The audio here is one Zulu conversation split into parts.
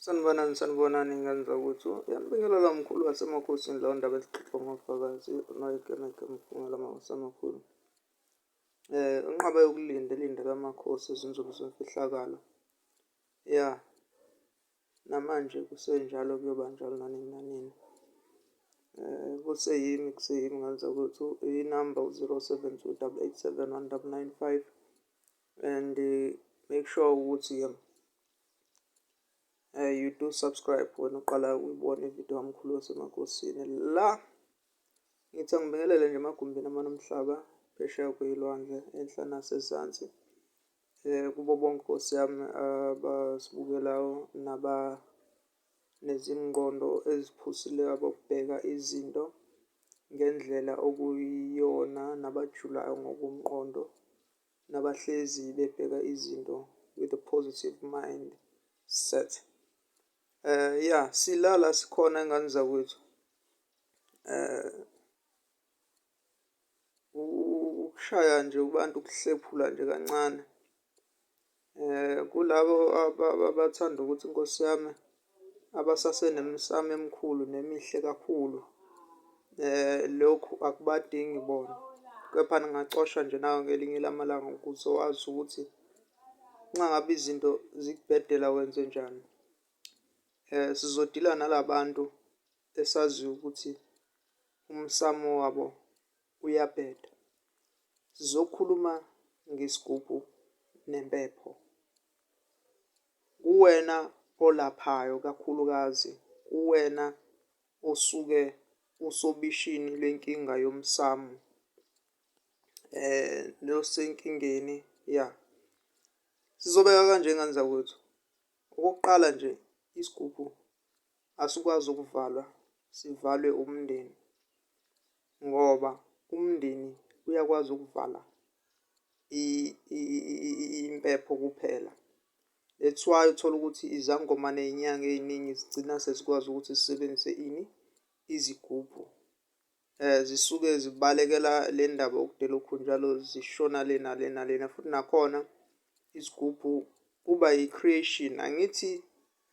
Sanibonani, sanibonani ngenza ukuthi uyanibingelela mkhulu wasemakhosini lawo ndaba ezixoxwa ngofakazi unoyikemeke mphumela mawasemakhulu. Eh unqaba yokulinda elinde kamakhosi izinsuku zemfihlakalo. Ya. Namanje kusenjalo kuyoba njalo nanini nanini. Eh kuseyimi kuseyimi ngenza ukuthi inamba u-0728719995 and uh, make sure ukuthi um, uh, you do subscribe wena uqala ukuyibona ividiyo kamkhulu wasemakosini la ngithi angibingelele nje emagumbini amane omhlaba phesheya kweyilwandle enhla nasezansi um kubo bonke nkosi yami abasibukelayo naba nezingqondo eziphusileyo abokubheka izinto ngendlela okuyiyona nabajulayo ngokomqondo nabahlezi bebheka izinto with a positive mind set eh ya silala sikhona ingane zakwethu eh ukushaya nje abantu kuhlephula nje kancane Kulabo abathanda ukuthi inkosi yami abasasenemisamo emikhulu nemihle kakhulu lokhu akubadingi bona, kepha ningacosha nje nawe ngelinye lamalanga ukuze wazi ukuthi nxa ngabe izinto zikubhedela wenzenjani. Sizodila nala bantu esaziyo ukuthi umsamo wabo Uyabheda. Sizokhuluma ngesigubhu nempepho. Kuwena olaphayo kakhulukazi, kuwena osuke usobishini lwenkinga yomsamu eh nosenkingeni ya sizobeka kanje ngane zakwethu okokuqala nje isigubhu asikwazi ukuvalwa sivalwe umndeni Ngoba umndeni uyakwazi ukuvala impepho kuphela. That's why uthola ukuthi izangoma ney'nyanga ey'ningi zigcina sezikwazi ukuthi zisebenzise ini, izigubhu. Zisuke zibalekela le ndaba yokudela okhunjalo zishona le nale nalena futhi nakhona isigubhu kuba yi-creation angithi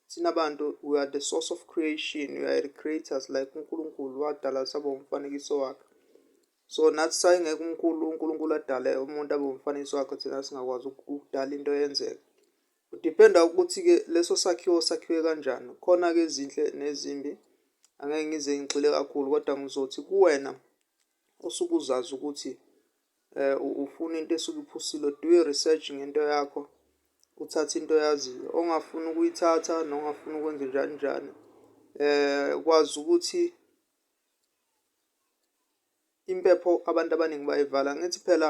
Thina bantu we are the source of creation, we are creators like uNkulunkulu wadala sabo umfanekiso wakhe. So nathi sayingeke umkhulu uNkulunkulu adale umuntu abe umfanekiso wakhe thina singakwazi ukudala into yenzeke. Kudependa ukuthi-ke leso sakhiwo sakhiwe kanjani. Khona-ke ezinhle nezimbi, angeke ngize ngigxile kakhulu kodwa ngizothi kuwena osuke uzazi ukuthi eh ufuna into esuke iphusile do your research ngento yakho uthathe into yaziyo ongafuni ukuyithatha nongafuni ukwenza njani njani eh kwazi ukuthi impepho abantu abaningi bayivala ngithi phela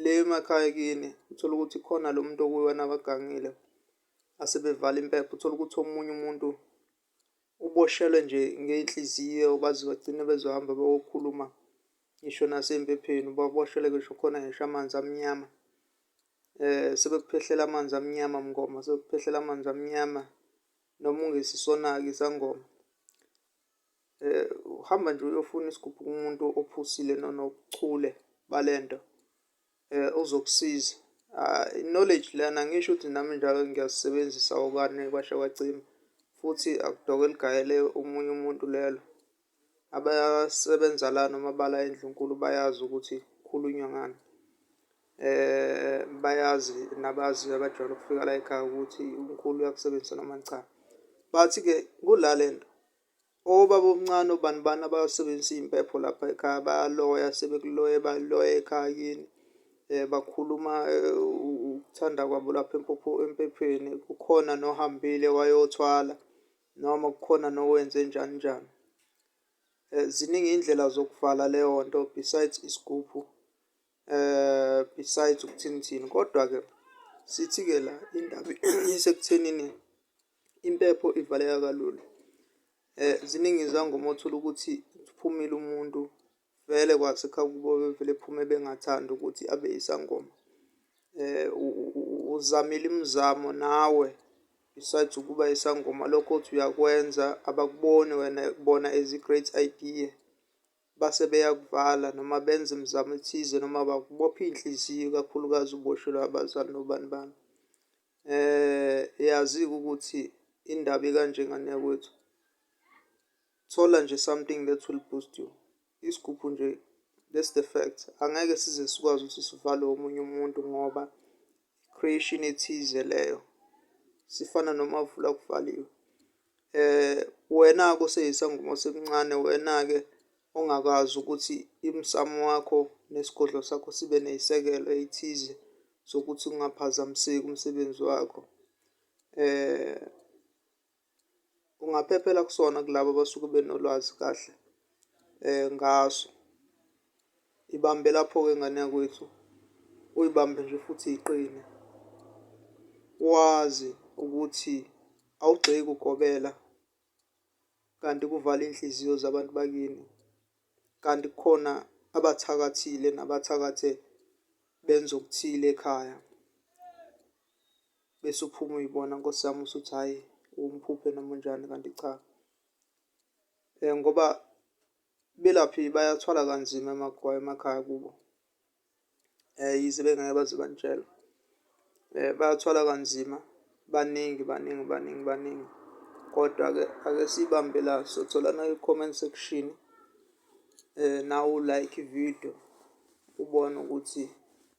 le emakhaya kini uthola ukuthi khona lo muntu okuwona abagangile asebevala impepho uthola ukuthi omunye umuntu uboshelwe nje ngey'nhliziyo baze bagcine bezohamba bayokhuluma ngisho nasey'mphepheni ubaboshelwe ngisho khona ngisho amanzi amnyama. Sebekuphehlela amanzi amnyama mngoma, sebekuphehlela amanzi amnyama noma ungesisona-ke isangoma. Uhamba nje uyofuna isigubhu kumuntu ophusile nonobuchule bale nto. eh uzokusiza ah, knowledge lana ngisho ukuthi nami njalo ngiyasebenzisa okane kwasha kwacima futhi akudoke ligayele umunye umuntu lelo abasebenza la noma bala endlunkulu bayazi ukuthi khulunywa ngani eh bayazi nabazi abajwayele ukufika la ekhaya ukuthi umkhulu uyakusebenzisa noma cha but ke kulalento Obaba omncane obani bani abasebenzisa impepho lapha ekhaya bayaloya sebekuloye baloye ekhaya kini um bakhuluma ukuthanda kwabo lapha empopho empepheni kukhona nohambile wayothwala noma kukhona nowenze njani njani um ziningi iy'ndlela zokuvala leyo nto besides isigubhu eh besides ukuthini thini kodwa ke sithi ke la indaba isekuthenini impepho ivaleka kalula eh ziningi izangoma othola ukuthi uphumile umuntu vele kwasekha kubo bevele phume bengathanda ukuthi abe isangoma eh uzamile imizamo nawe besides ukuba isangoma lokho othi uyakwenza abakuboni wena bona as i-great idea base beyakuvala noma benza imizamo ethize noma bakubopha iy'nhliziyo ikakhulukazi uboshelwe abazali nobani bani. Yazi-ke ukuthi indaba ikanje ngane yakwethu, thola nje something that will boost you. Isigubhu nje that's the fact, angeke size sikwazi ukuthi sivalwe omunye umuntu ngoba creation ethize leyo sifana nomavula kuvaliwe eh wena ke oseyisangoma osemncane wena ke ongakazi ukuthi imsamo wakho nesigodlo sakho sibe neyisekelo ethize sokuthi ungaphazamiseki umsebenzi wakho eh ungaphephela kusona kulabo abasuke benolwazi kahle um ngaso. Ibambe lapho-ke ngane yakwethu, uyibambe nje futhi iqine. Wazi ukuthi awugxeki ugobela kanti kuvala iy'nhliziyo zabantu bakini. Kanti kukhona abathakathile nabathakathe benza okuthile ekhaya. bese uphuma uyibona nkosi yami usuthi hhayi umphuphe noma unjani kanti cha um ngoba belaphi bayathwala kanzima emakhaya emakhaya kubo um yize bengeke baze banitshela um bayathwala kanzima baningi baningi baningi baningi kodwa-ke ake siyibambe la sotholana kwi-comment section um nawu like ividiyo ubone ukuthi